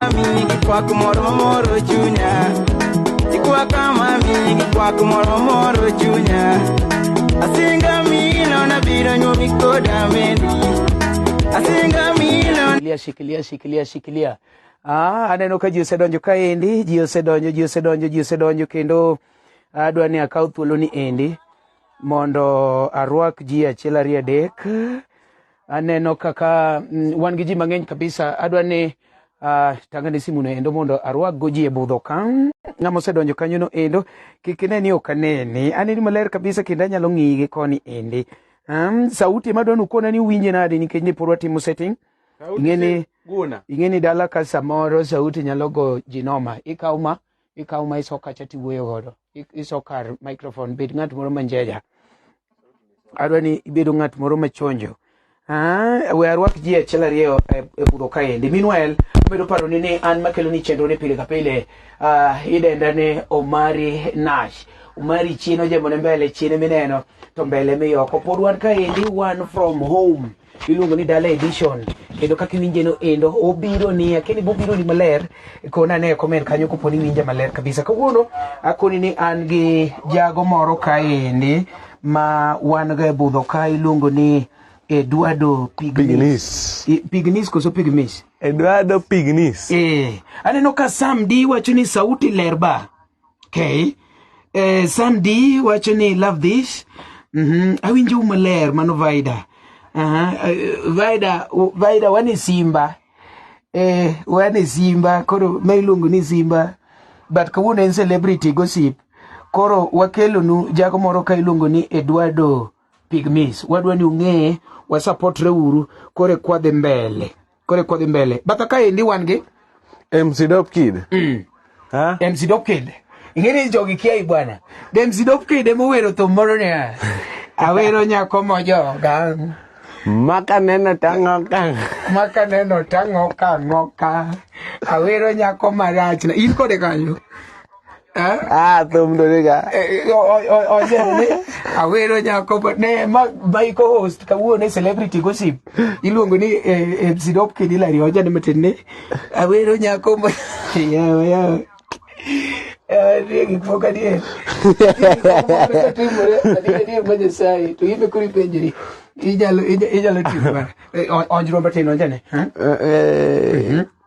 Mami gikwak moro mamoro chunya Gikwaka mami gikwak moro mamoro chunya Asinga mino nabiro nyuomi koda mendi Asinga mino shikilia shikilia shikilia shikilia ah, aneno ka ji osedonjo kaendi ji osedonjo ji osedonjo ji osedonjo kendo adwa ni akaw thuoloni endi mondo arwak ji achiel ariyo adek Aneno kaka mm, wan gi ji mang'eny kabisa. Adwa ni uh, tangane simuno endo mondo arwakgo ji e budho ka. Ng'ama osedonjo kanyono endo kik ine ni ok aneni. Aneni maler kabisa kendo anyalo ng'iyi gi koni endi. Um, sauti ema dwani ukona ni uwinje nade nikech ne pod watimo setting. Ing'eni ing'eni dala ka samoro sauti nyalo go jinoma. Ikaw ma ikawo ma iso kacha tiwuoyo godo I- iso kar microphone bed ng'at moro manjeja adwa ni ibedo ng'at moro machonjo Ah, we arwak ji achiel ariyo e e budho kaendi meanwhile amedo paroni ni an makelo ni chenro ni pile ka pile ah, idenda ni omari nash omari chien ojemone mbele chien mineno to mbele miyoko pod wan kaendi wan from home iluongo ni Dala Edition kendo kaka iwinje no endo obiro ni akini bobiro ni maler kona ne comment kanyo kopo ni winja maler kabisa kawuono akoni ni an gi jago moro kaendi ma wan ga e budho ka iluongo ni Eduardo Pignis. Pignis koso Pigmis? Eduardo Pignis. Eh, aneno ka Sam di wacho ni sauti lerba. Okay. Eh, Sandy wacho ni love this. Mhm. Mm Awinjo maler mano Vida. Aha. Uh eh, -huh. Vida Vida wani Simba. Eh, wani Simba koro ma iluongo ni Simba. But kawuono en celebrity gossip. Koro wakelonu jago moro ka iluongo ni Eduardo pigmis wadwa ni ung'eye wasapotre uru kore kwadhi mbele kore kwadhi mbele batha kaendi wan gi MC Dope Kid mm. ha? MC Dope Kid ing'eni jogi kiai bwana de MC Dope Kid emowero thum moro niya awero nyako mojoga maka neno tang'oka maka neno tang'oka ng'oka awero nyako marachna in kode kanyo Eh? Ah, thum ndo nega. Eh, Oje ni awero nyako but ne ma bai ko host kawuono ne celebrity gossip. Iluongo ni eh, eh, Sidop Kidila ri oje ne matin ni awero nyako ma yawa yawa. Eh, ni gik moko adier. Timore adier adier ma Nyasaye to ibe kuri penjri. Ijalo ija- ijalo timo. Eh, o- Onjro matin oje ne. Eh? Eh, eh,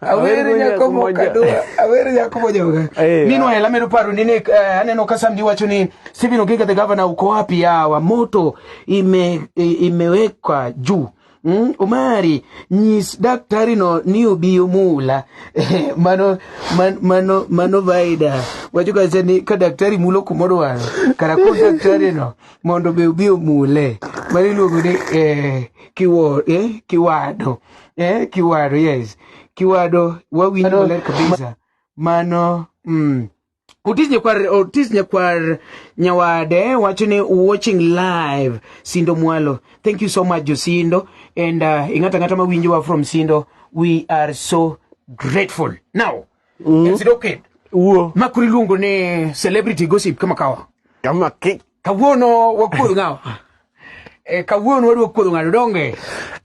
Awere nyako mokado, awere nyako mojoga. Eh, Meanwhile, amedo paro ni nek, eh, aneno ka Samdi wacho ni Stephen Ogiga the governor uko wapi yawa, moto ime, imewekwa juu. Mm, Omari nyis daktari no ni obiyo mula mano man, mano mano vaida wacho kacha ni ka daktari mulo kumodwaro kara ko daktari no mondo be obiyo mule mano iluongo ni eh, kiwo, eh, kiwado eh, kiwado yes kiwado wawinjo Kiwado. maler kabisa mano mm. Otis Nyakwar, Otis Nyakwar Nyawade wacho ni watching live Sindo Mwalo. Thank you so much Josindo and uh, ing'ata ng'ata mawinjowa from Sindo we are so grateful. Now Sidoked. Wuo. Ma kuri luongo ni celebrity gossip kama kawa. Kama ki. Kawuono wakuodho ng'awa. Eh, kawuono wadwa kuodho ng'ato donge.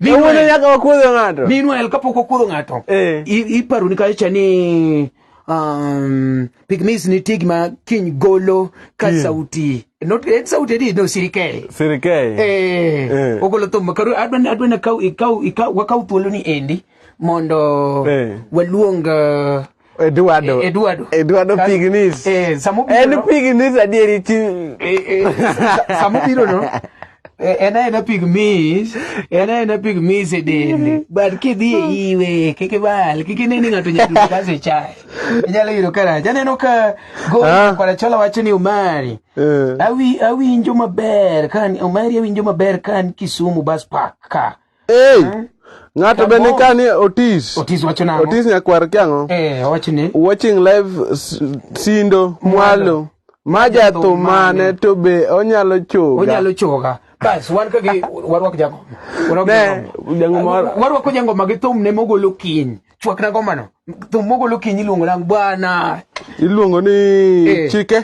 Kawuono nyaka wakuodho ng'ato. Meanwhile kapok wakuodho ng'ato. Eh. Iparo ni kacha ni um, pigmis nitie gima kiny golo ka yeah. sauti not en sauti adi no sirikei sirikei eh, eh. ogolo thum karu adwa adwa na kau ikau ikau wakau thuolo ni endi mondo eh. waluong uh, Eduardo. E, Eduardo. Eduardo Pignis. Eh, samo biro. En Pignis adieri ti. Eh, eh, samo biro no. Eh, en aena pigmis en aena pigmis e dende but kidhi e iwe kik ibal kik ine ni ng'ato nyalo kase chae inyalo yudo karach aneno ka gokwarachola ah. wacho ni omari eh. awinjo maber kan omari awinjo maber kan kisumu bas park ka Hey. Eh? Ng'ato be ni kani Otis. Otis wacho nang'o? Otis nyakwar ki ang'o? Eh, owacho ni. Watching live sindo mwalo. Maja thumane to be onyalo choga. Onyalo choga. Bas, wan ka gi warwak jago. Ne, jango mar. Warwak jango magi thum ne mogolo kiny. Chwak na gomano. Thum mogolo kiny iluongo nang bwana. Iluongo ni eh. chike.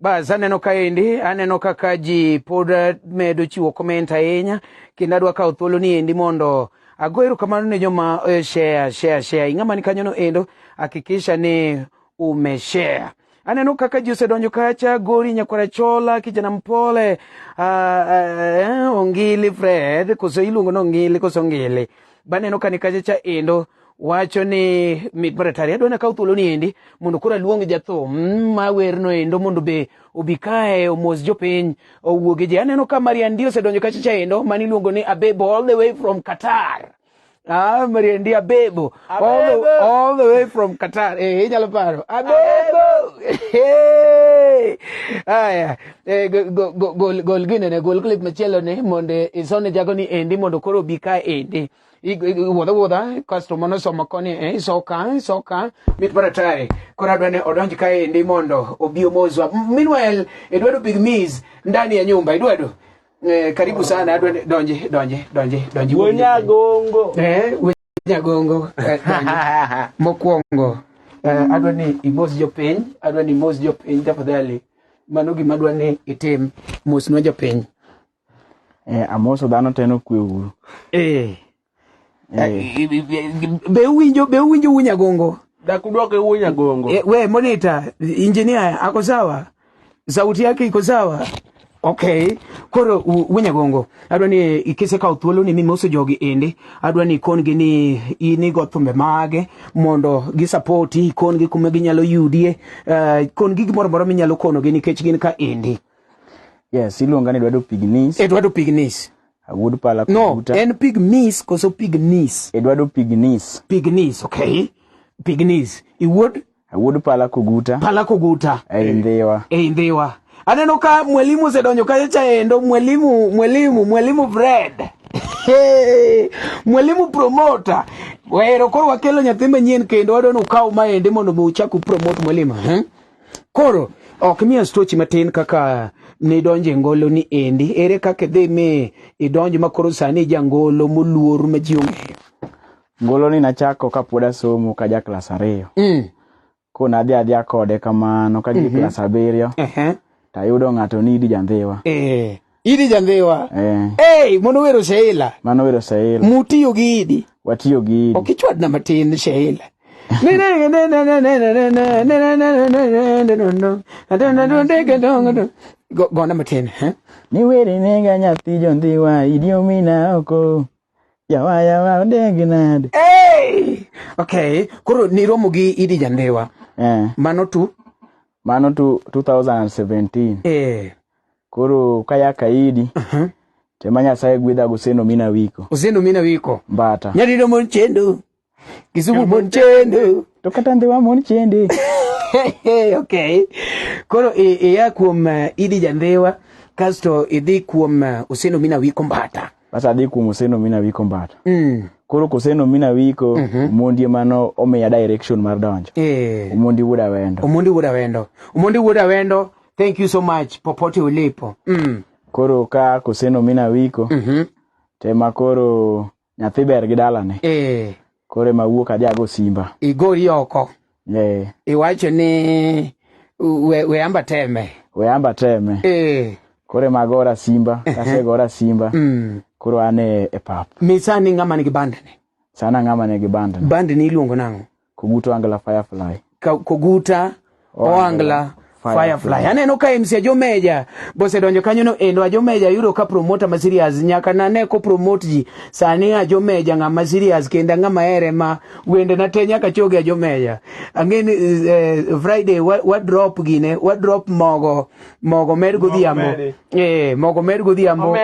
Bas aneno kaendi, aneno kaka ji pod eh, medo chiwo comment ahinya kendo adwa kawo thuolo ni endi mondo ago erokamano ne joma eh, share share share. Ing'ama ni kanyono endo hakikisha ni umeshare. Aneno kaka ji osedonjo kacha, Gori Nyakwara Chola, kijana mpole, uh, uh, Ongili Fred, koso iluongo ni Ongili koso Ongili. Baneno ka ni kacha cha endo wacho ni mit maratari adwa nakaw thuolo ni endi mondo koro aluong jathum mm, ma werno endo mondo be obi kae omos jopiny owuoge ji aneno ka mariandi osedonjo kacha cha endo mani iluongo ni abebo all the way from qatar Ah, Mariendi Abebo, Abebo. All, the, all the way from Qatar. Eh, hey, inyalo paro. Abebo. Hey. Aya, eh, gol go, go, go, gine ne gol clip machielo ne monde isone jago ni endi mondo koro bi ka endi. Wuodha wuodha kasto mano somo koni eh, iso ka iso ka mit mar atari koro adwa ne odonj ka endi mondo obi omozwa. Meanwhile, idwado big miss ndani ya nyumba idwado Eh, karibu sana donje donje donje donje donje. Wonyagongo. Eh, Wonyagongo. Eh, Mokwongo. Eh, adwa ni imos jopiny, adwa ni imos jopiny tafadhali. Mano gima adwa ni itim mosnwa jopiny. Eh, amoso dhano teno kwe uru. Eh. Be uwinjo be uwinjo wunya gongo? Dakudwoke wunya gongo. E, we monitor, engineer ako sawa? Sauti yake iko sawa? Okay. Koro wunya gongo. Adwa ni ikise ka uthuolo ni mimoso jogi ende. Adwa ni ikon gi ni ini go thumbe mage mondo gi support ikon gi kuma ginyalo yudie. Uh, ikon gi gimoro moro minyalo kono gi nikech gin ka ende. Yes, iluonga ni Eduardo Pignis. Eduardo Pignis. Agud pala No, kubuta. en pig miss koso pig nis? Eduardo Pignis. Pig nis, okay. Pig nis. Iwuod Agud pala kuguta. pala kuguta. Ei ndhiwa. Ei ndhiwa. Aneno ka mwalimu osedonjo kacha chaendo, mwalimu, mwalimu, mwalimu Fred. Hey, mwalimu promoter. Wero koro wakelo nyathi manyien kendo wadwa ni ukaw maende mondo mi uchak upromote mwalimu. Hmm? koro ok miya stochi matin kaka nidonjo e ngolo ni endi ere kaka idhi mi idonjo ma koro sani ija ngolo moluor ma ji ong'eyo ngolo ni nachako ka pod asomo ka ja klas ariyo mm. ko nadhi adhiya kode kamano ka ji mm -hmm. klas abiriyo uh -huh. tayudo ng'ato ni idi jandhiwa e. Idi jandhiwa. Eh. Hey, mono wero Sheila. Mano wero Sheila. Mutiyo gi Idi. Watiyo gi Idi. Okichwad na matin Sheila. Gona matin. Ni weri nega nyathi jondhiwa idi omina oko. Yawa yawa odegi nade. Hey! Okay, koro niromo gi Idi Jandhiwa. Eh. Mano tu? Mano tu 2017. Eh. koro ka ya kaidi uh -huh. tema nyasaye gwedha goseno mina wiko oseno mina wiko mbata nyadido mon chendo kisugu mon chendo to kata ndhiwa mon chende okay koro iya kuom uh, idi jandhiwa kasto idhi kuom uh, oseno mina wiko mbata bas adhi kuom oseno mina wiko mbata mm. koro koseno mina wiko mm -hmm. omondi emano omiya direction mar donjo e. omondi wuod awendo omondi wuod awendo omondi wuod awendo thank you so much popote ulipo mm. koro ka koseno mina wiko mm -hmm. tema koro nyathi ber gi dalane e. Kore ma wuok adhi ago simba. Igori oko. Eh. Iwacho ni we, we amba teme. We amba teme. Eh. Kore ma gora simba, eh. kase gora simba. Mm. Koro ane e pap. Misani ngama ni gi bandene. Sana ngama ni gi bandene. Bandene iluongo nango. Kuguto angla firefly. koguta oangla Firefly. Aneno ka MC Ajomeja bosedonjo kanyo no endo Ajomeja yudo ka promoter ma serious nyaka na ne ko promote ji sani Ajomeja ng'ama serious kenda ng'ama ere ma wende na te nyaka choge Ajomeja. Ang'e ni eh, Friday wa, wa drop gine wa drop mogo mogo med godhiambo. Eh mogo med godhiambo.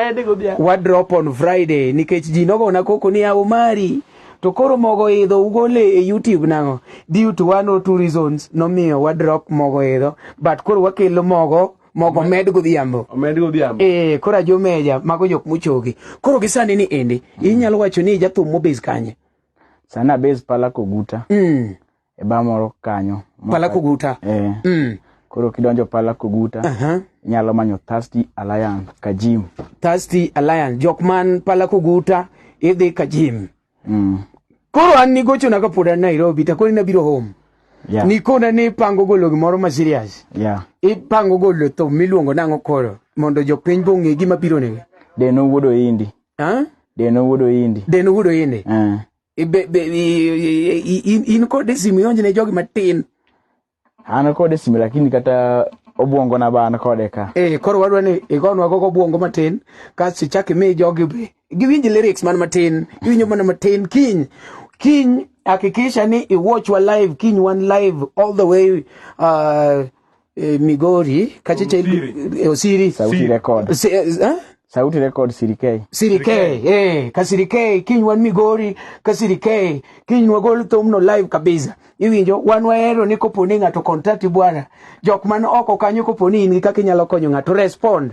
Wa drop on Friday nikech ji nogo na koko ni Omari. To koro mogo idho ugole e YouTube nango? Due to one or two reasons nomiyo wa drop mogo idho but koro wakelo mogo mogo med godhiambo med godhiambo eh kora jo meja mago jok muchogi koro gisani ni endi mm. inyalo wacho ni jathum mobes kanye sana base pala koguta mm. e ba moro kanyo pala kuguta eh. mm. koro kidonjo pala kuguta uh -huh. inyalo manyo thirsty alliance kajim thirsty alliance jok man pala kuguta idhi kajim mm. koro an nigochona kapod an nairobi takoni nabiro home yeah. nikona ni ipango golo gimoro ma serious yeah. ipango golo thum miluongo nang'o koro mondo jopiny bong'e gima biro negi deno wuodo indi huh? deno wuodo indi deno wuodo indi uh. in kode simu ionj ne jogi matin an kode simu lakini kata obwongo na ba an kode ka eh koro wadwa ni igonwa gogo obwongo matin kasto ichak imi jogi be giwinj lyrics man matin giwinjo mana matin kiny kiny hakikisha ni iwatchwa live kiny wan live all the way uh, eh, Migori kacheche Osiri, eh, Osiri. Sauti Siri. record. Si, eh, eh? Sauti record Siri K. Siri K, eh, ka Siri K, kiny wan Migori, ka Siri K, kiny wagol thumno live kabisa. Iwinjo, wan wahero ni kopo ni ng'ato contact bwana, jok man oko kanyo kopo ni in gi kaka inyalo konyo ng'ato, respond.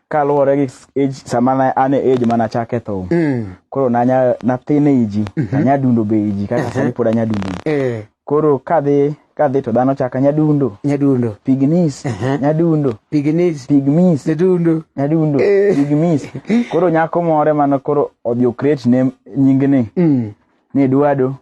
kaluwore gi age sama na- an e age mana chake thum Mm. koro nanya nathin e iji anya dundo be iji kaka sani pod anya dundo iji Eh, koro kadhi kadhi to dhano chaka anya dundo nyadundo pignis Aha. anya dundo piginis pigmis nyadundo anya dundo Eh. pigmis koro nyako more mano koro odhi okret ne nyingni Mm. ni dwado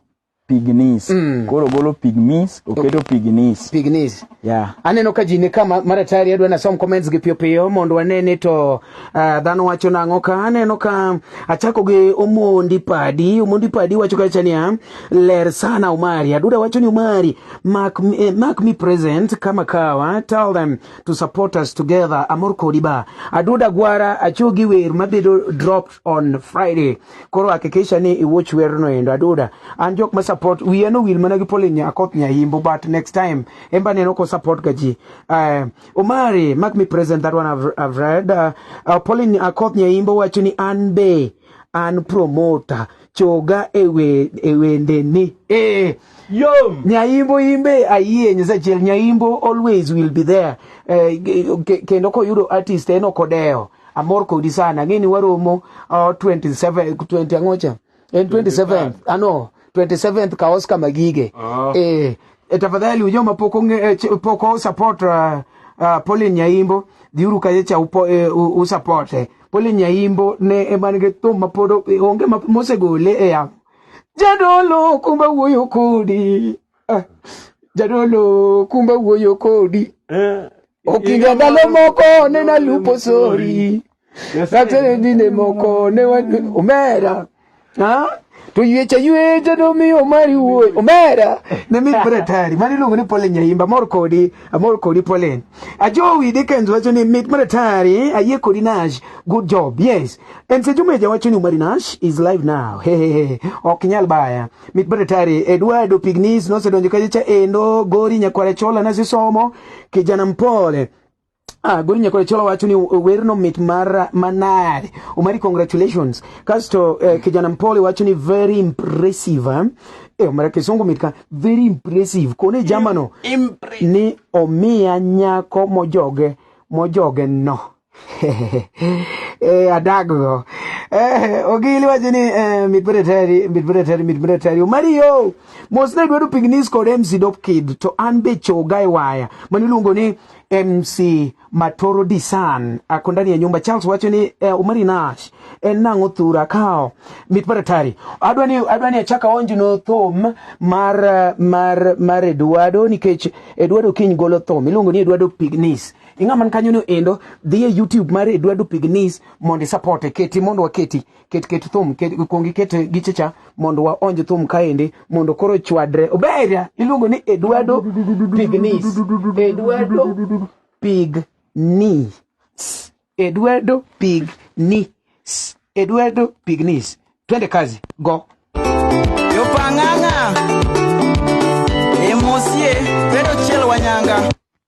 pignis mm. koro ogolo pigmis oketo pignis pignis yeah. aneno ka ji ni ka maratari adwa nasom comments gi piyopiyo mondo wane ni to uh, dhano wacho nang'o ka aneno ka achako gi omondi padi omondi padi wacho kacha niya ler sana umari aduda wacho ni umari mark, eh, mark me present kama kawa tell them to support us together amor kodi ba aduda gwara achogi wer mabedo dropped on friday koro hakikisha ni iwatch werno endo aduda an jok ma support wiya no wil mana gi Pauline Nyakoth Nyahimbo but next time emba neno ko support ga ji uh, Omari make me present that one I've, I've read uh, uh, Pauline Nyakoth Nyahimbo wacho ni an be an promoter choga ewe ewende ni eh Yom. Nyaimbo imbe ayie nyasachiel Nyaimbo always will be there. Eh, kendo koyudo artist en okodeo. Amor kodi sana. Ng'e ni waromo uh, 27 20 angocha. En 27 ano 27th ka Oscar Magige. Uh-huh. Eh, e tafadhali ujao mapoko eh, poko support uh, uh, Pauline Nyaimbo dhiuru kaye cha upo, uh, eh, usupport. Eh. Pauline Nyaimbo ne eman ge thum mapodo onge mosegole e yamo. Jadolo kumba wuoyo kodi. Ah, jadolo kumba wuoyo kodi eh, okinga ndalo moko nena lupo sori katere dine moko ne omera ha toywecha ywecha nomiyo omari wuoyi omera ne mit bre tari mani iluongo ni polen nyaimba amor kodi amor kodi polen ajowi dickens wacho ni mit bre tari ayie kodi nash good job yes and sejumeja wacho ni omari nash is live now hehehe ok nyal baya mit badatari Eduardo Pignis nosedonjo kaje cha endo gori nyakware chola na sisomo kijana mpole Ah, gori nyakware chola wacho ni werno mit mar manade umari congratulations kasto eh, kijana mpole wacho ni very impressive eh? eh, mara kisungu mitka very impressive kone jamano Im, ni omiya nyako mojoge mojoge no eh, adaggo eh, ogili wacho ni eh, mit mreteri mit mreteri mit mreteri omari yo mos ne dwaro pignis kod mc dop kid to an be choga e waya mani iluongo ni mc matoro disan ako ndani ya nyumba charles wacho ni eh, omari nash en nang'o thura kao mit mreteri adwa ni adwa ni achaka onjno thum mar mar mar eduardo nikech eduardo kiny golo thum iluongo ni eduardo pignis ing'a man kanyo no endo dhi e youtube mar eduardo pignis mondo isapote keti mondo waketi ket ket thum ket kuongi ket gichecha mondo waonj thum kaendi mondo koro chwadre oberia iluongo ni eduardo pignis eduardo pignis eduardo pignis eduardo pignis twende kazi go yopang'ang'a emosie pedo chiel wanyanga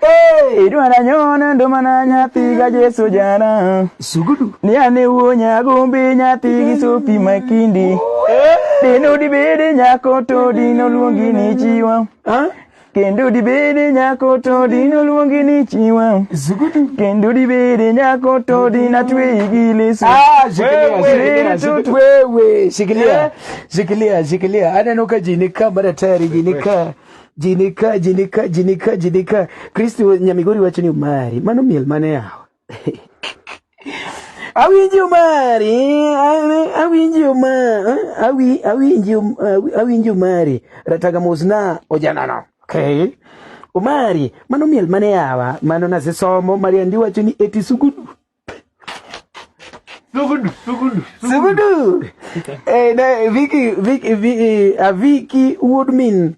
Hey, idwa na nyona ndo mana nyathi ga Jesu jana. Sugudu. Ni ane wuo nyagombi nyathi gi sopi makindi. Eh? Dino dibede nyako to dino luongi ni chiwa. Huh? Kendo dibede nyako to dino luongi ni chiwa. Sugudu. Kendo dibede nyako to dina tweyi gi leso. Ah, shikilia, shikilia, wewe, shikilia, eh? shikilia, shikilia. Aneno ka ji ni ka mara tayari ji ni ka. Jinika, jinika, jinika, jinika. Kristo Nyamigori wacho ni umari. Mano miel mane yawa. awinji umari, awinji uma, awi, awinji, um, awinji umari. Rataga mosna ojanano. Okay. Umari, mano miel mane yawa. Mano nazisomo, Maria ndi wacho ni eti sugudu. Sugudu, sugudu, sugudu. eh, na, Vicky, Vicky, Vicky, uh, Vicky Woodmin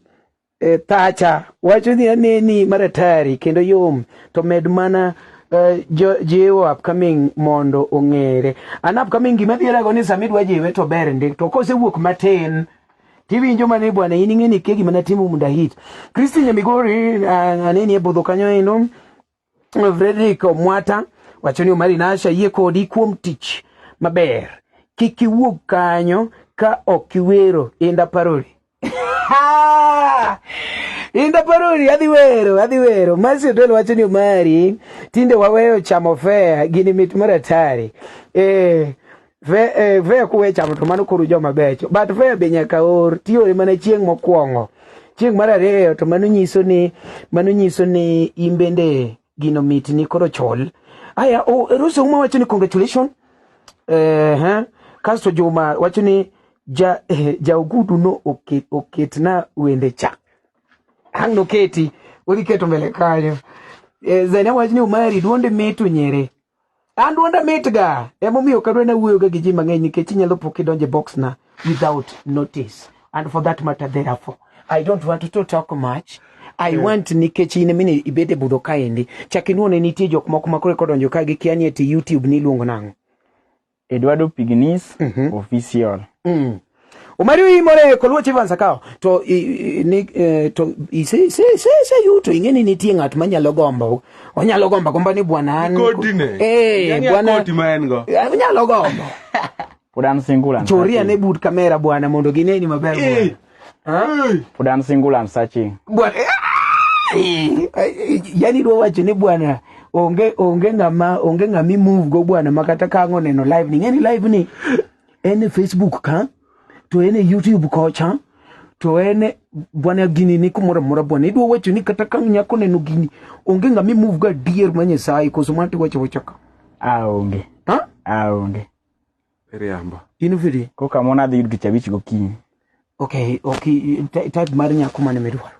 eh, Thatcher wacho ni aneni maratari kendo yom to med mana uh, jiwo upcoming mondo ong'ere an upcoming gima dhierago ni sami dwa jiwe to ber ndi to kosewuok matin tiwinjo mane bwana in ing'eni ke gima natimo munda hit Christine Migori uh, aneni e budho kanyo endo Frederick Omwata wacho ni Omari Nash ayie kodi kuom tich maber. Kik iwuog kanyo ka ok iwero inda paroli. Inda paroli adhi wero, adhi wero. Masi Odol wacho ni Omari tinde waweyo chamo fea gini mit maratari. Eh, Ve, eh, ve kuwe chamo to mano koro joma becho but ve be nyaka or tiore mana chieng' mokwongo chieng' mar ariyo to mano nyiso ni mano nyiso ni in bende gino mit ni koro chol aya oh, Rose Ouma wacho ni congratulation eh, eh, kasto Juma wacho ni ja, eh, ja Ogudu no oket, oket na wende cha ang' noketi udhi keto mbele kanyo eh, Zaina wacho ni Umari duonde mitu nyere An duonda mitga, emomiyo ok adwa nawuoyoga gi ji mang'eny nikech inyalo po kidonjo e boxna without notice. And for that matter, therefore, I don't want to talk much. I yeah. want nikech in mine ibede budho kaendi. Chak inuone nitie jok moko makore kodonjo ka gikia ni eti YouTube ni iluongo nang'o. Eduardo Pignis mm -hmm. official mm. Omari uyimore koluo chief ansakawo to i, i, ni, eh, to i, se, se, se, se yuto ing'e ni nitie ng'at manyalo gombo onyalo gombo gombo ni bwana an kodine eh yani bwana koti ma en go eh, onyalo gombo pod an single choria ne but kamera bwana mondo gineni maber eh. bwana Udan single and searching. Bwana. Yaani do wacho ni bwana onge onge ngama onge ngami move go bwana makata kango neno live ni ngeni live ni ene Facebook ka to ene YouTube kocha to ene bwana gini ni kumora mora bwana idwa wacho ni kata kang nyako neno gini onge ngami move ga dear manye sai koso mati wacho wacho ka aonge ah, ha aonge Iriambo. In free. Koka mona dhi yud tich abich gokinyi. Okay, okay, type mar nyako mane midwaro.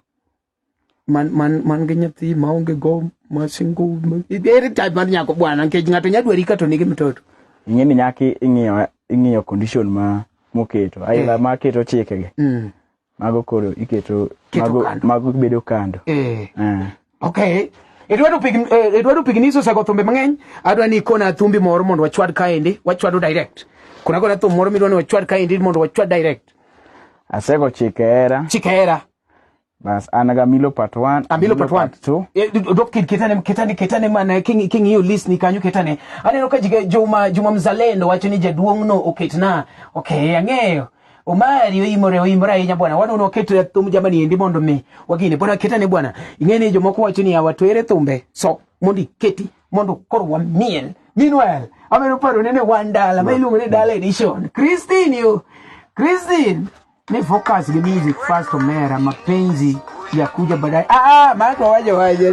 Man man man gi nyathi ma onge go ma single. Ere type mar nyako bwana nikech ng'ato nyadwari ka to nigi mtoto. Ing'e ni nyaki ing'iyo ing'iyo condition ma moketo. Aila eh. ma keto chike gi. Mm. mago koro iketo Keto mago, kando. mago bedo kando eh. Ah. okay idwaro pig eh, idwaro pig niso sego thumbe mang'eny adwa ni ikona thumbi moro mondo wachwad kaendi wachwado direct kuna kona thum moro midwa ni wachwad kaendi mondo wachwad direct asego chike hera chike hera bas an ga milo part 1 amilo part 1 2 Eh, d- dok kit- kitane kitane kitane mana king- king'iyo list ni kanyo kitane aneno ka jiga- juma juma mzalendo wacho ni jaduong'no oketna okay ang'eyo Omari oimore oimore ahinya bwana wan ono keto ya thum jamani endi mondo mi wagine bwana keta ne bwana ing'eni jomoko wacho ni awa twere thumbe so mondi keti mondo koro wamiel meanwhile ameno paro nene wan dala ma iluongo ni dala edition Christine yo Christine ni focus ni music first omera mapenzi ya kuja baadaye ah ah maana waje waje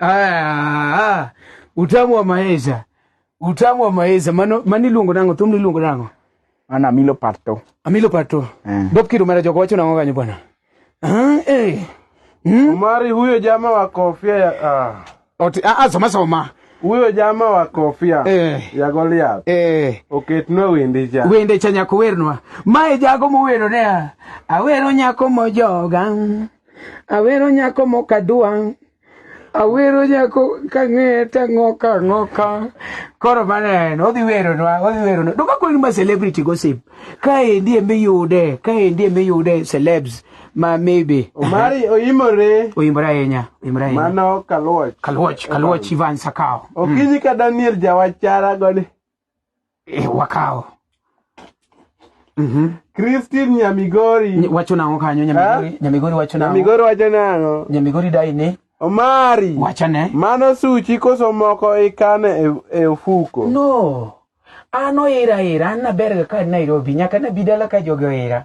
Ah, utamu wa maeza utamu wa maeza mano mani luongo nango thum ni luongo nango an amilo pato amilo pato eh. bob kido mara jogo wacho nango kanyo bwana ah, eh. hmm? umari huyo jama wa kofia ya ah. Oti, ah, ah, soma soma huyo jama wa kofia eh. ya Goliath eh. oketnwa okay, wende cha wende cha nyako wernwa mae jago mowero ne awero nyako mojoga Awero nyako mok adwa. Awero nyako kang'eye tang'oka ang'oka. Koro mana en, odhi weronwa, odhi weronwa. Duka kweli ma celebrity gossip. Kaendi eme yude, kaendi eme yude celebs ma maybe. Omari oyimore. Oyimore ahinya, oyimore ahinya. Mano Kaluoch. Kaluoch, Kaluoch Ivan Sakao. Okinyi ka Daniel Jawachara goni. Eh, wakawo. Mhm. Christine Nyamigori. Wacho nang'o kanyo Nyamigori? Eh? Nyamigori wacho nang'o? Nyamigori wacho nang'o? Nyamigori dai ni Omari. Wacha ne. Mano suchi koso moko ikane e, e ofuko. No. An oira ira, an naberga ka Nairobi, nyaka nabi dala ka jogi oira.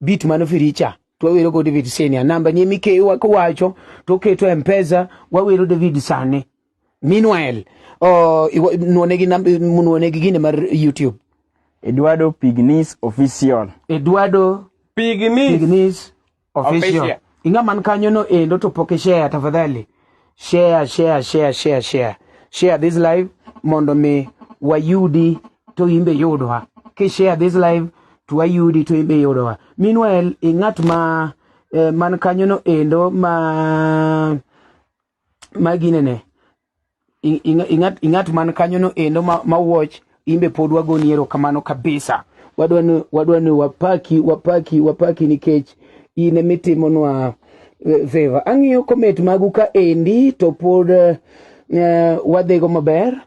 bit mano firicha to wawero go David Senior namba ni mikeyo wako wacho to keto e mpesa wawero David Sane meanwhile uh, nuone gi nuone gi gine mar YouTube Eduardo Pignis official Eduardo Pignis, Pignis official, official. Inga man kanyo no endo to poke share tafadhali. Share, share, share, share, share. Share this live mondo mi wayudi to imbe yudwa. Ki share this live to wayudi to imbe yudwa. Meanwhile, ingat ma eh, man kanyo no endo ma magi nene ingat ingat man kanyo no endo ma, ma watch imbe pod wagoni erokamano kabisa wadwa ni wadwa ni wapaki wapaki wapaki nikech in emitimonwa eh, favor ang'iyo comment magu ka endi to pod uh, eh, wadhigo maber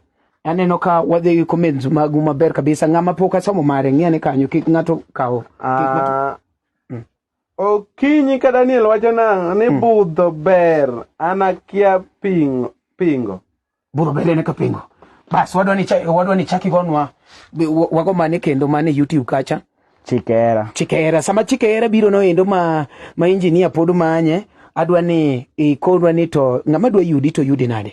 aneno ka wadhi gi comments magu maber kabisa ng'ama pok asomo mare ng'iane kanyo kik ng'ato kaw uh, Okinyi ka Daniel wacho nang'o ni hmm. budho ber an akia pingo. pingo. Budho ber en ka pingo. Bas wadwa ni wadwa ni chaki gonwa wago mane kendo mane YouTube kacha. Chikera. Chikera sama chikera biro no endo ma ma engineer pod manye adwa ni ikonwa ni to ng'ama dwa yudi to yudi nade?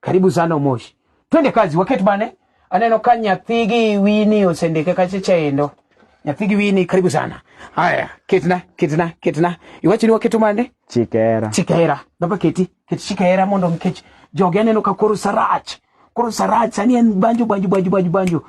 Karibu sana Umoshi. Twende kazi waket bane. Aneno ka nyathi gi wini osendike kache chaendo. Nyathi gi wini karibu sana. Haya, ketna, ketna, ketna. Iwacho ni waketo mane? Chikera. Chikera. Baba keti, keti chikera mondo nikech jogi aneno ka koro sarach. Koro sarach sani en banjo banjo banjo banjo banjo.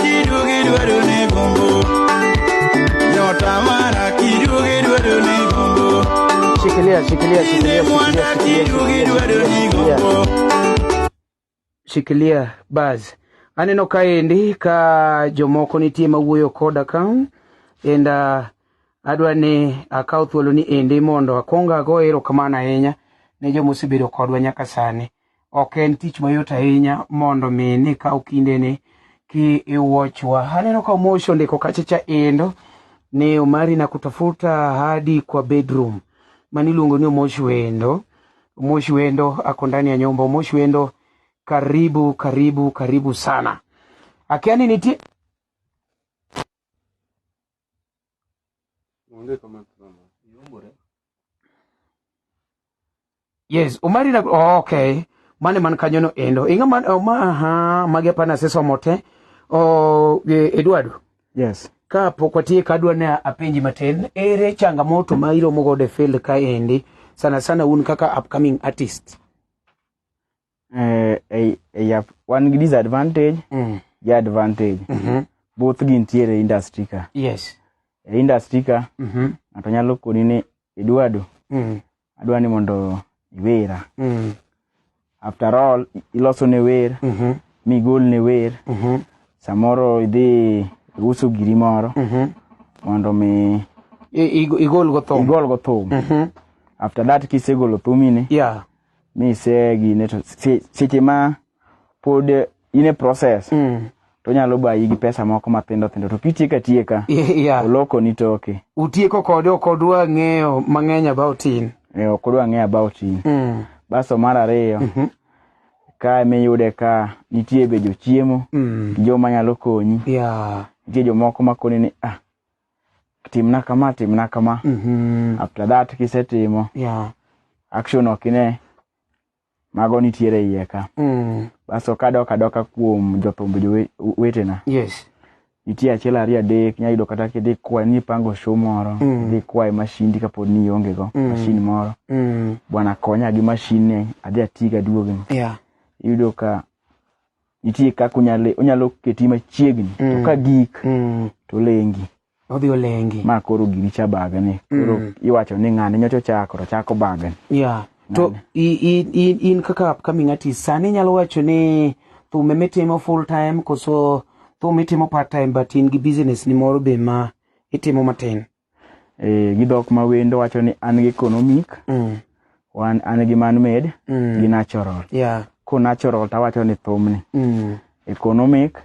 Kidugi dwaro ni gombo. Nyota mara kidugi dwaro ni gombo. Shikilia, shikilia, shikilia, Mwana shikilia, kidugi shikilia, dwaro ni shikilia, gombo. shikilia baz. Aneno kaendi ka jomoko nitie mawuoyo koda ka and uh, adwa ni akaw thuolo ni endi mondo akwong ago erokamano ahinya ne joma osebedo kodwa nyaka sani. Ok en tich mayot ahinya mondo mi ni kaw kindeni ki iwachwa. Aneno ka Moshi ondiko kachacha endo ni Omari na kutafuta hadi kwa bedroom. Mani luongo ni Moshi wendo. Moshi wendo ako ndani ya nyumba. Moshi wendo karibu karibu karibu sana. Akiani nitie Onge kama drama. Iumbore. Yes, Omari na oh, okay. Mane man kanyo no endo. Inga man oh, ma ha magi apana se somo te. Oh, e, Eduardo. Yes. Ka pok watie ka adwa ne apenji matin, ere changamoto ma iromo godo e field ka endi sana sana un kaka upcoming artist? eh, eh, eh, yap, wan gi disadvantage mm. gi advantage mm -hmm. both gintiere industry ka yes. e industry ka mm -hmm. ng'ato nyalo koni ni eduardo mm. adwa ni mondo iwera mm. after all iloso ne wer mm -hmm. migol ne wer mm -hmm. samoro idhi uso giri moro mm -hmm. mondo mi igol go thum igol go thum mm -hmm. after that kisegolo thumini yeah misegine to se- seche ma pod in e process Mm. to onyalo bayi gi pesa moko mathindo thindo to kitieko atieka Y- yeah. olokoni toke utieko kode ok odwa ng'eyo mang'eny about in e, ok odwa ng'eyo about in mm. basto mar ariyo ka miyude ka nitie be jochiemo Mm. joma nyalo konyi yeah. nitie jomoko makoni ni ah timna kama timna kama Mhm. after that kisetimo Yeah. action ok ine mago nitiere iye ka Mm. baso kadok adoka kuom jothumb jowetena Yes. nitie achiel ariyo adek nyayudo kata kidhi kwae nipango show moro Mm. idhi kwae mashindi kapod ni iongego Mm. mashin moro Mm. bwana konya gi mashin ni adhi atiga duogni Yeah. iyudo ka nitie kaka unyalo unyalo keti machiegni to Mm. ka gik Mm. to lengi Odhi olengi. ma koro gini cha bagani koro Mm. iwacho ni ng'ane nyocha ochako to chako bagani Yeah. To i, i, i, in kaka upcoming artist sani inyalo wacho ni thum ema itimo full time koso thum itimo part time but in gi business ni moro be ma itimo matin. eh, gi dhok ma wendo wacho ni an gi economic Mm. wan an gi man made Mm. gi natural Yeah. ko natural to awacho ni thumni Mm. economic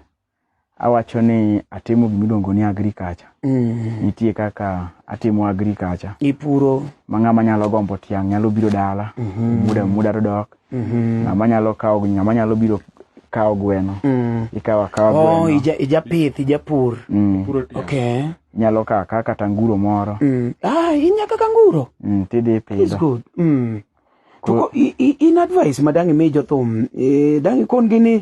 awacho ni atimo gima iluongo ni agriculture Mm. nitie kaka atimo agriculture Ipuro. ma ng'ama nyalo gombo tiang' nyalo biro dala Mhm. muda muda to dok Mhm. ng'ama nyalo kawo ng'ama nyalo biro kawo gweno Mm. ikawo akawa Oh, gweno ija, ijapith, ijapur. Mm. Okay. nyalo kaka kata nguro moro Mm. Ah, inya kaka nguro. mm, tidhi It's ipidho good. Mm. To Ko- ko- i- i- in advice ma dang' imi jothum, eh, dang' ikon gi ni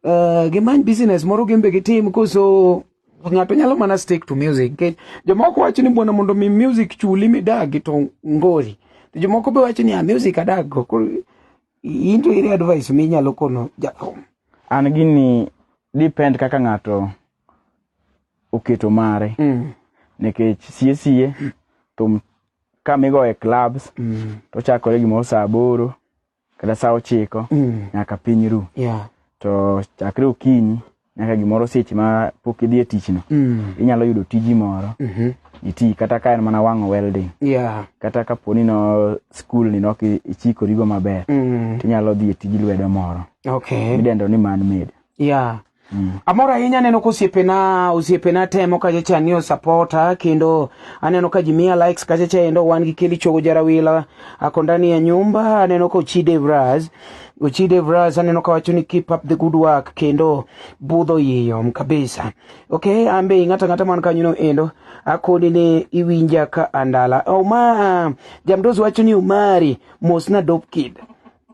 eh, gimany business moro gin be gitim koso ng'ato nyalo mana stick to music. Nikech Jomoko wacho ni bwana mondo mi music chuli midagi to ngori. To jomoko be wacho ni ah, music adag go. Koro i- in to iri advice minyalo kono jathum. an gini depend kaka ng'ato oketo mare mm. nikech sie sie thum kamigo e clubs mm. to chakore gimoro saa aboro kata saa ochiko mm. nyaka piny ru yeah. to chakre okinyi nyaka gimoro seche ma pok idhi e tichno mm. inyalo yudo tiji moro mm -hmm. iti kata ka en mana wang'o welding yeah. kata kapo ni no skul ni nok ichikorigo maber mm. tinyalo dhi e tij lwedo moro okay. midendo ni man made yeah. Mm. Amor ahinya aneno ka osiepena osiepena temo kachacha ni osapota kendo aneno ka jimiya likes kachacha endo wan gi Kelly Chogo Jarawila ako ndani ya nyumba aneno ka Ochide Vraz Ochide Vraz aneno ka wacho ni keep up the good work kendo budho yiyom kabisa okay ambe ng'ata ng'ata man kanyo no endo akoni ni iwinja ka andala Oma jamdozi wacho ni Omari mosna dope kid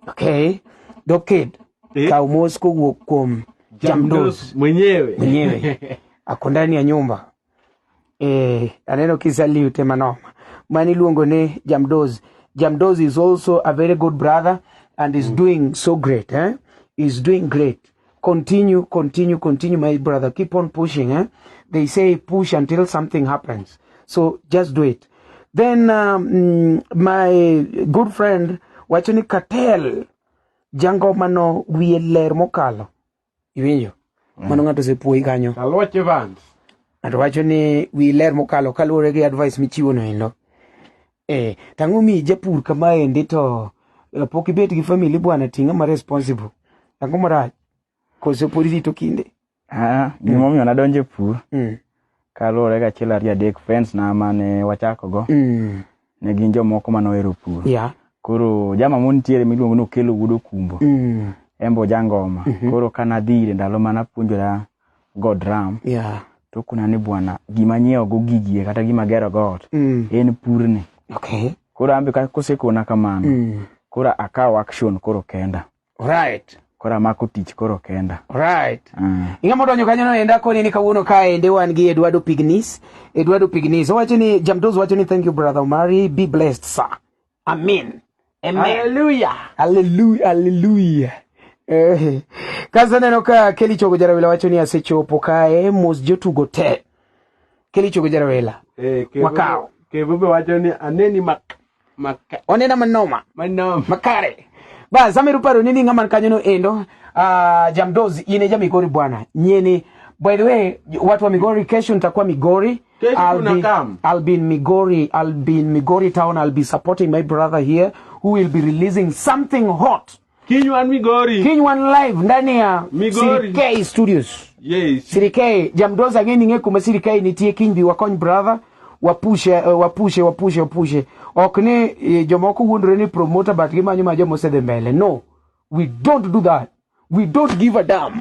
okay dope kid eh? Kaw mos kowuok kuom Jamdos mwenyewe mwenyewe ako ndani ya nyumba eh, aneno kisalute manoma mani iluongo ni Jamdos. Jamdos is also a very good brother and is mm. doing so great eh? is doing great continue continue continue my brother keep on pushing eh? they say push until something happens so just do it then um, my good friend wacho ni cartel jangomano wiye ler mokalo iwinjo mm. mano ng'ato osepuoyi kanyo aluoch evans ng'ato wacho ni wi ler mokalo kaluwore gi advice michiwo no endo eh tang'o mi japur kama endi to eh, pok ibet gi family bwana ting'a ma responsible tang'o marach koso pod irito kinde Ah, gimomiyo nadonjo e pur Mm. kaluwore gi achiel ariyo adek friends na mane wachakogo Mm. ne gin jomoko mane ohero pur Yeah. koro jama mon nitiere miluongo ni okelo wuod okumbo Mm. en be ojangoma koro ka nadhi ire ndalo mane apuonjora go drum Yeah. to kuna ni bwana gima nyiewogo gigie kata gima gerogo ot Mm. en purni Okay. koro an be ka- kosekona kamano Mm. koro akawo action koro kenda Right. Koro amako tich koro kenda. Right. Mm. Ing'ama odonjo kanyo no enda koni ni kawuono kaende wan gi Eduardo Pignis. Eduardo Pignis. Owacho ni Jamdoz wacho ni thank you brother Omari. Be blessed sir. Amen. Amen. Hallelujah. Hallelujah. Hallelujah. Eh. Kaza neno ka Kelly Chogo Jarawela wacho ni asechopo kae mos jotugo te. Kelly Chogo Jarawela. Eh, wakao. Kevo be wacho ni aneni mak. Maka onena manoma manoma makare ba zamiru paro nini ngama kanyo no endo uh, ah, jamdozi ine ja migori bwana nyeni by the way watu wa migori kesho nitakuwa migori I'll be, I'll be in Migori. I'll be in Migori town. I'll be supporting my brother here who will be releasing something hot. Kinywan Migori. Kinywan live ndani ya Migori. CDK Studios. Yes. CDK Jamdoza ngeni nge kuma CDK nitie Kinybi wakony brother wapushe eh, wapushe wapushe wapushe ok ni eh, jomoko wuondore ni promoter but gimanyo ma joma osedhi mbele no we don't do that we don't give a damn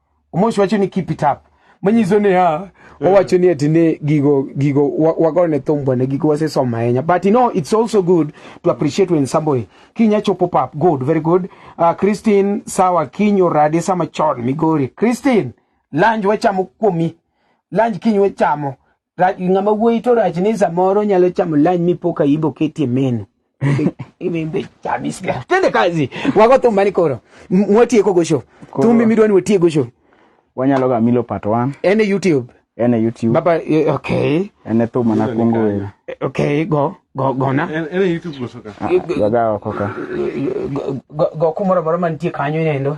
omosi wacho ni keep it up manyiso ni ha eh. owacho ni ati ni gigo gigo wagone thumbo ne gigo wasesomo ahinya but you know it's also good to appreciate when somebody kinya chopo pap good very good uh, Christine sawa kinyo rade sama chon migori Christine lunch wachamo kuomi lunch kinyo wachamo Rach ng'ama wuoyi to rach ni samoro nyalo chamo lunch mi poka ibo ketie menu. Imbe chamis ga. Tende kazi. Wago thumba ni koro. Mwatieko go show. Thumbi midwani watieko go show. Wanyalo ga milo part 1. Ene YouTube. Ene YouTube. Baba eh, okay. Ene thumba na kungu wewe. Okay, go. Go go na. Ene YouTube go soka. Go ga go ka. Go kumoro moro mantie kanyo nendo.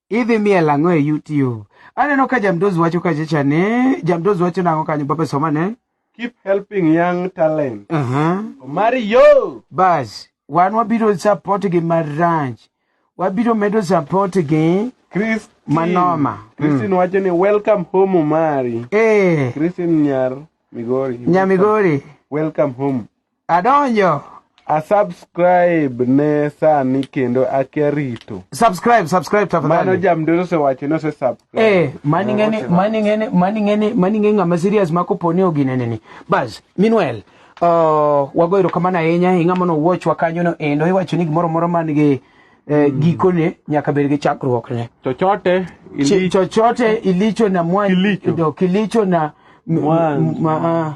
idhi miel ang'o e YouTube? Aneno ka Jamdozi wacho kachacha ni Jamdozi wacho nang'o kanyo Papa somane? Keep helping young talent. Uh -huh. Omari yo! Bas, wan wabiro support gi maranch. Wabiro medo support gi Chris Manoma. Christine mm. wacho ni welcome home Omari. Eh. Christine Nyar Migori. Nyamigori. Welcome home. Adonjo. A subscribe ne sani kendo akia rito. Subscribe, subscribe tafadhali. Mano jamdero se wacho no se subscribe. Eh, mani ngene, mani ngene, mani ngene, mani ngene ngama serious mako poni ogine nini. Bas, meanwhile, uh, wago erokamano ahinya e ng'ama nowuochwa kanyono endo iwacho ni gimoro moro man gi eh, mm. gikone nyaka bed gi chakruokne chochote ilicho, chochote ilicho na mwandu kilicho, kilicho na mwandu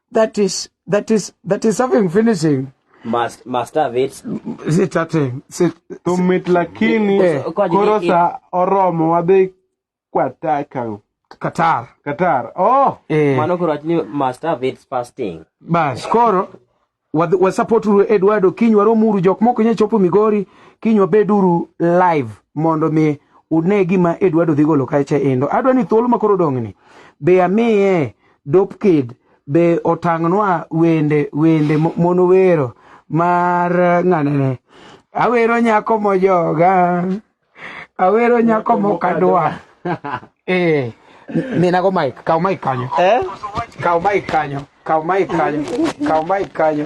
that is that is that is something finishing must must have it si chate si to mit lakini eh, koro sa oromo wadhi kwata ka Qatar Qatar oh eh. mano koro achni must have it fasting bas koro wasupport wa Eduardo kiny waromuru jok moko nya chopo Migori kiny wabeduru live mondo mi une gima Eduardo dhi golo kacha endo adwa ni thuolo makoro dong'ni be amiye Dope Kid be otang'nwa wende wende mon wero mar ng'anene awero nyako mojoga awero nyako mokadwa eh minago mike kaw mike kanyo eh? kaw mike kanyo kaw mike kanyo kaw mike kanyo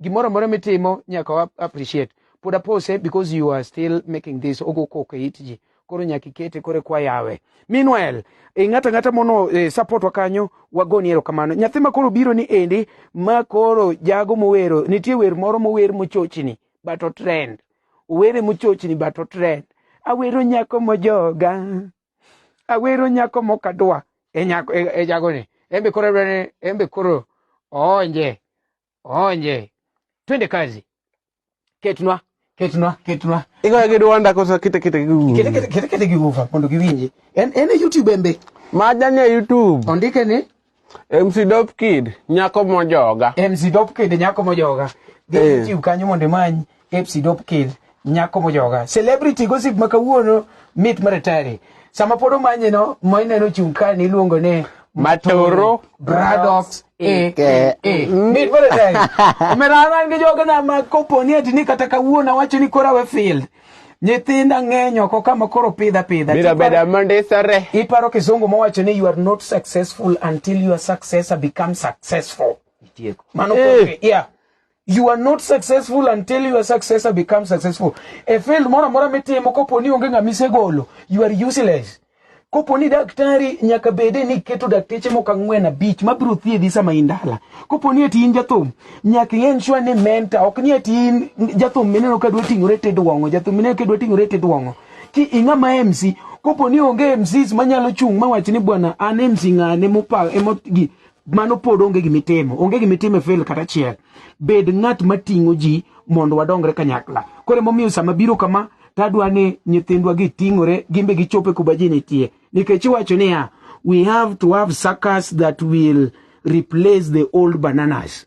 gimoro amora mitimo nyaka wa appreciate pod apose because you are still making this ogo koko e it ji koro nyaka ikete koro kwa yawe meanwhile e ng'ata ng'ata mono e, support wa kanyo wagoni erokamano nyathi ma koro biro ni endi ma koro jago mowero nitie wer moro mower mochochni but otrend owere mochochni but otrend awero nyako mojoga awero nyako mokadwa e nyako e, e jagoni embe koro dwani embe koro oonje Onje. Twende kazi. Ketnwa, ketnwa, ketnwa. Iko ya kidu wanda kosa kita kita kigu. Kita kita kita kita kigu fa kondo kiwinje. En en e YouTube embe. Majanya ya YouTube. Ondike ni MC Dop Kid nyako mojoga. MC Dop Kid nyako mojoga. Gi eh. YouTube kanyo mondo manyi. Epsi dop kil nyako mojoga. Celebrity gossip ma kawuono mit maratari. Sama pod omanye no, ma ineno chung' ka ni iluongo ni Matoro Bradox e e e. Mit maratari. Omera an gi joga na ma kopo ni ati ni kata kawuono awacho ni kora we field. Nyithinda ng'eny oko kama koro pidha pidha. Bira beda mandisore. Iparo kizungu mowacho ni you are not successful until your successor becomes successful. Itieko. Mano Eh. kore, yeah. You are not successful until your successor becomes successful. E field moro amora mitimo kopo ni onge ng'ama isegolo, you are useless. Kopo ni daktari nyaka bede ni keto dakteche moko ang'wen abich ma biro thiedhi sama in dala. Kopo ni eti in jathum, nyaka ing'e sure ni mentor, ok ni eti in jathum mineno ka dwa ting'ore te dwong'o, jathum mineno ka dwa ting'ore te dwong'o. Ki ing'ama MC, kopo ni onge MCs manyalo chung' mawach ni bwana an MC ng'ane mopa emogi mano pod onge gima itimo onge gima itimo e fail kata achiel bed ng'at mating'o ji mondo wadongre kanyakla koro emomiyo sama biro kama tadwa ni nyithindwa giting'ore gimbe gichope kuma ji nitie nikech iwacho niya we have to have suckers that will replace the old bananas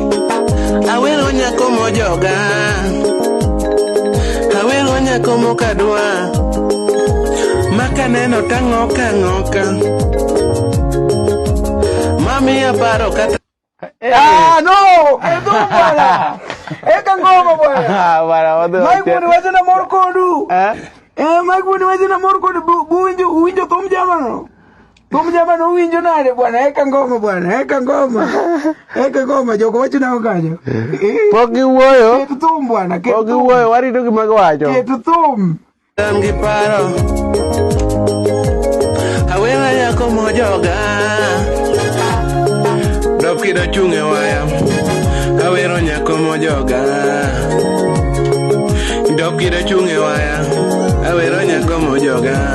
Awero nyako mojoga, awero nyako mokadwa, makaneno tang'oka ng'oka, mami aparo kata eh. Ah, no! Edo bwana! Eka ngoma bwana! Ah, bwana, wadhi wacha. Mike bwana, wacha na mor kodu! Eh? Eh, Mike bwana, wacha na mor kodu, buwinjo, uwinjo thum jamano! Huyu jamaa na winjo nale bwana, eka ngoma bwana, eka ngoma. Eka ngoma joko wacho na ongajo. Pok giwuoyo. Ketu thum bwana, ketu. Pok giwuoyo, warito gima giwacho. Ketu thum. Tam gi paro. Awena yako mojoga. Dokido chunge waya. Awero nyako mojoga. Dokido chunge waya. Awero nyako mojoga.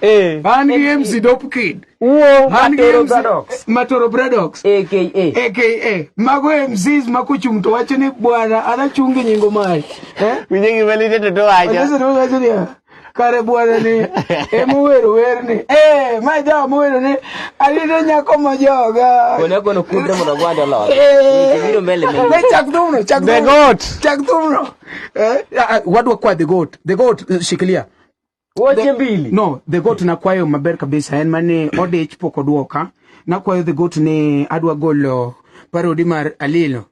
Eh. Man gi MC Dope Kid. Uo man gi MC Matoro Bradox. AKA. AKA. Mago MCs ma kuchung to wacho ni bwana anachungi nyingo mari. Eh? Winje gi melite to to wacho. Wacho to wacho ni. kare bwana ni ema owero werni eh ma jawa mowero ni alito nyako ma joga kone kono kudre mondo gwanda lor eh. biro mbele mbele ne chak thumno chak the goat chak thumno eh ah, ah, wadwa kwa the goat the goat eh, shikilia Wache mbili. No, the goat na kwayo maber kabisa en mane odich pok odwoka. Na kwayo the goat ni adwa golo parodi mar Alilo.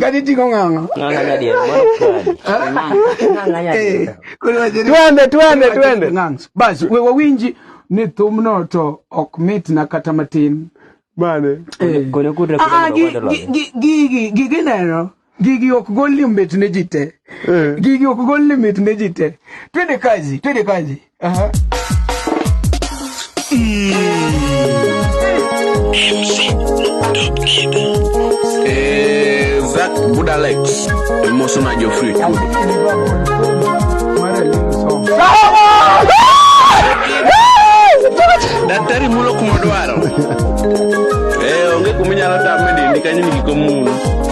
Kaniting'o ng'ang'a. Twende twende twende. Basi we wawinji ni thumno to ok mitna kata matin. Bane. Gigi neno. Gigi ok gol limit ne ji te. Eh. Gigi ok gol limit ne ji te. Twende kazi, twende kazi. Aha. Eh, Zach Budalex, el mozo Nayo Free. Daktari mulo kuma dwaro. Eh, onge kuma inyalo tame dindi kanyo ni giko mulo.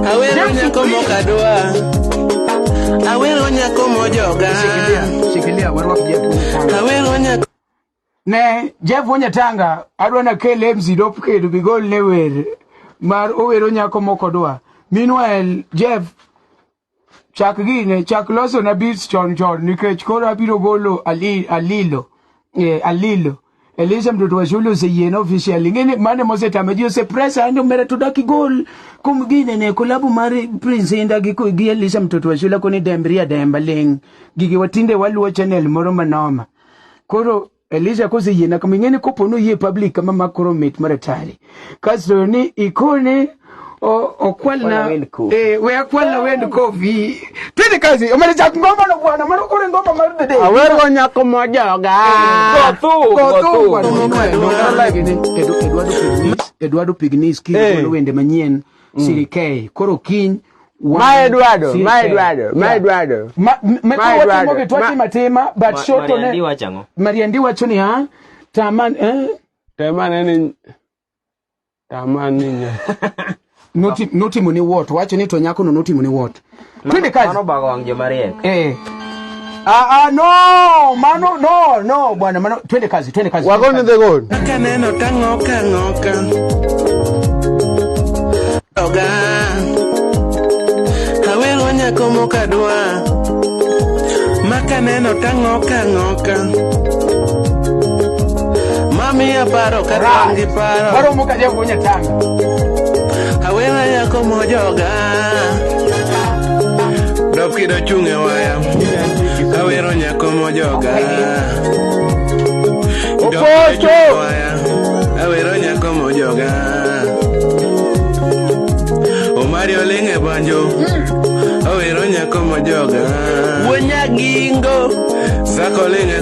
Awero nyako mokadwa. Awero nyako mojoga. Shikilia, shikilia warwak Jeff. Awero nyako ne Jeff Wonyatanga adwa na kel MC dop kedo bigol ne wer mar owero nyako mokodwa. Meanwhile Jeff chak gine chak loso na beats chon chon nikech koro abiro golo ali, alilo eh, alilo Elisha mtoto wa shule usijiene official ngine mane mose tameji use press ande umere tudaki goal kumgine ne kulabu mari prince inda giku gi Elisha mtoto wa shule kuni dembria demba ling gigi watinde waluo channel moro manoma koro Elisha kusijiene kamingine koponu ye public kama makoro mit maratari kasto ni ikone okwalna eh, we akwalna wend kofi twende kazi omalichak ngoma no bwana mano kore ngoma mar dede awero nyako mojoga kothu kothu Eduardo Pignis kiro eh. wende manyien mm. sirikei koro kiny Ma Eduardo, ma Eduardo, ma Eduardo. Ma Eduardo. Matuwa timo matima, but short on it. Mariandi wacho ni ha, taman, eh, Tem ane ni tama ni nya. Noti- notimo ni wot wacho ni to nyakono notimo ni wot twende kazi Mano bago wang' joma riek. eh. ah, ah, no mano no no bwana mano twende kazi twende kazi Wago ni the goal. Kaka neno tang'oka ng'oka Doga Awelo nyako mokadwa Maka neno tang'oka ng'oka Mami aparo ka an gi paro. Paro mo ka jago nya tanga. Awena yako mojoga. Dop kido chunge waya. Awero nyako mojoga. Oposto. Awero nyako mojoga. Omari olinge banjo. Hmm. Awero nyako mojoga. Wonyagingo. Sako linge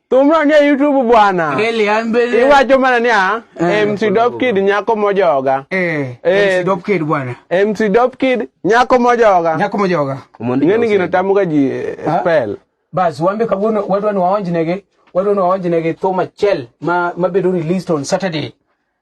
Thumno nie YouTube bwana. Really, I'm very... Iwacho mana niya, eh, MC Dope Kid nyako mojoga. Eh, eh, MC Dope Kid bwana. MC Dope Kid nyako mojoga. Nyako mojoga. Ng'eni gino tamuga ji eh, spell. Bas, wambe kawuono wadwa ni waonjnegi, wadwa ni waonjnegi thum achiel ma mabedo released on Saturday.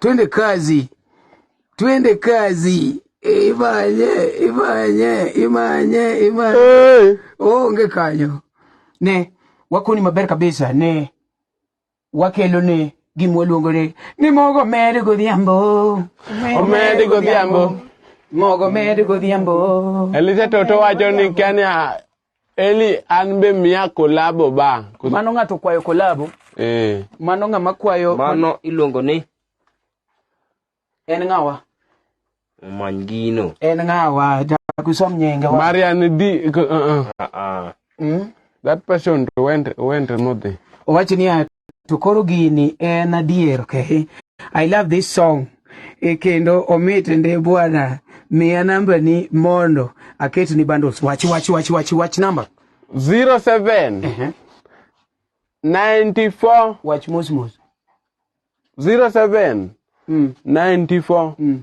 Twende kazi, twende kazi. Imanye, imanye, imanye, imanye. Hey. Onge kanyo. Ne, wakoni maber kabisa, ne. Wakelo ne gima waluongo ni ni mogo med godhiambo. Omed godhiambo. Mogo med godhiambo. Elise Toto wacho ni Kenya Eli an be miya kolabo ba. Mano ng'ato kwayo kolabo. Eh. Mano ng'ama kwayo. Mano iluongo ni. En ng'awa. Omany gino. En ng'awa. Jakusom nyinge. Marian di. Uh, uh. Uh, uh. Mm? That person went went modhi. Owacho ni to koro gini en adier okay? I love this song e kendo omit ndi bwana miya namba ni mondo aket ni bundles wach wach wach wach wach namba 07 uh -huh. 94 wach mos mos 07 mm. 94 mm.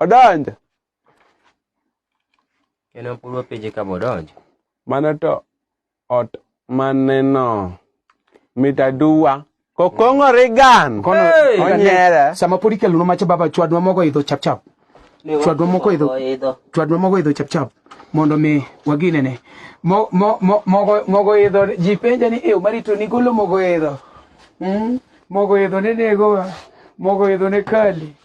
Odonjo. Kendo pur wapenje ka bodonjo. Mano to ot maneno mit aduwa kokong'ore gan onyere sama pod ikelonwa macha baba chwadnwa mogo idho chapchap chwadnwa mogo idho chwadnwa mogo idho chapchap mondo mi waginene mogo idho ji penja ni ew marito ni golo mogo idho hmm? mogo idho ne negowa mogo idho ne kali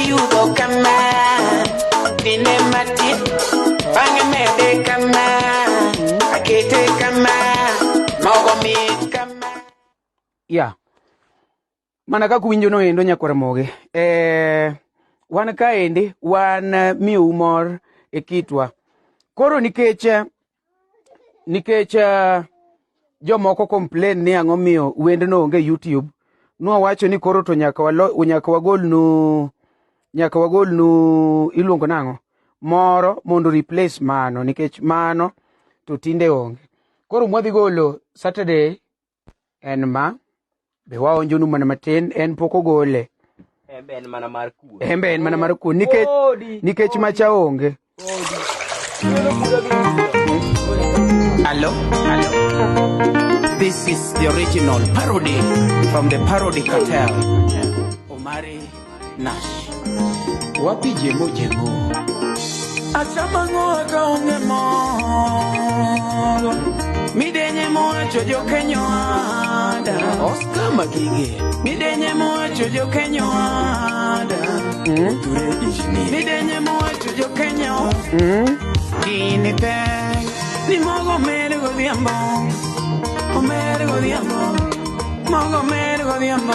Iyudo kama dine matin bang'e mede kama akete kama mogo mit kama ya mana kaka winjo no endo nyakwar moge eh, wan kaendi wan eh, miu mor e kitwa koro nikech eh, nikech uh, jomoko complain ni ang'o miyo wendno onge YouTube nwawacho ni koro to nyaka walo nyaka wagolnu nyaka wagolnu iluongo nang'o moro mondo replace mano nikech mano to tinde onge koro mwadhi golo Saturday en ma be waonjonu mana matin en pok ogole embe en mana mar kuon embe en mana mar kuon nikech nikech macha onge Hello? Hello? This is the original parody from the parody cartel. Omari Nash. Wapi jemo jemo? Asamango akaonge moro. Midenye mowacho jokenyo ada. Oscar Magige. Midenye mowacho jokenyo ada. Mm. Ture Ishni. Midenye mowacho jokenyo. Mm. Gini pek. Ni mogo mere godhiambo. Omere godhiambo. Mogo mere godhiambo.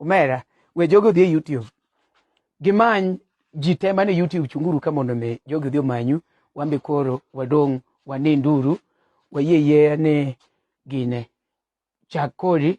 omera we jogo odhi e youtube gimany ji te mane youtube chunguru ka mondo mi jogo odhi omanyu wambe koro wadong' waninduru wayie yie ni gine chak kori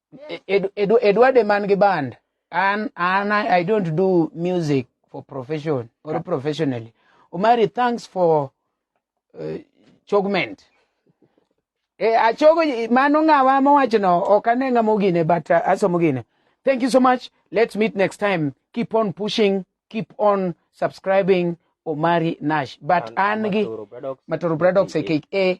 Edward e man gi band an an I don't do music for profession or professionally Omari thanks for uh, chogment e eh, achogo mano ng'awa mowachno ok ane ng'ama ogine but uh, asomo gine thank you so much let's meet next time keep on pushing keep on subscribing Omari Nash but an gi Matoro Bradox aka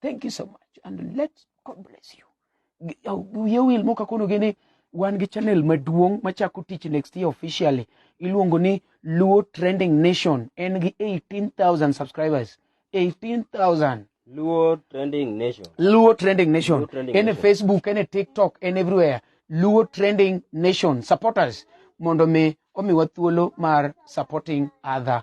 thank you so much and let god bless you Gi- au- wiye wil moka kono gini wan gi channel maduong' machako tich next year officially iluongo ni luo trending nation en gi 18000 subscribers 18000 Luo Trending Nation. Luo Trending Nation. Luo Trending Any Nation. Facebook, any TikTok, and everywhere. Luo Trending Nation. Support us. Mondo me omiwa thuolo mar supporting other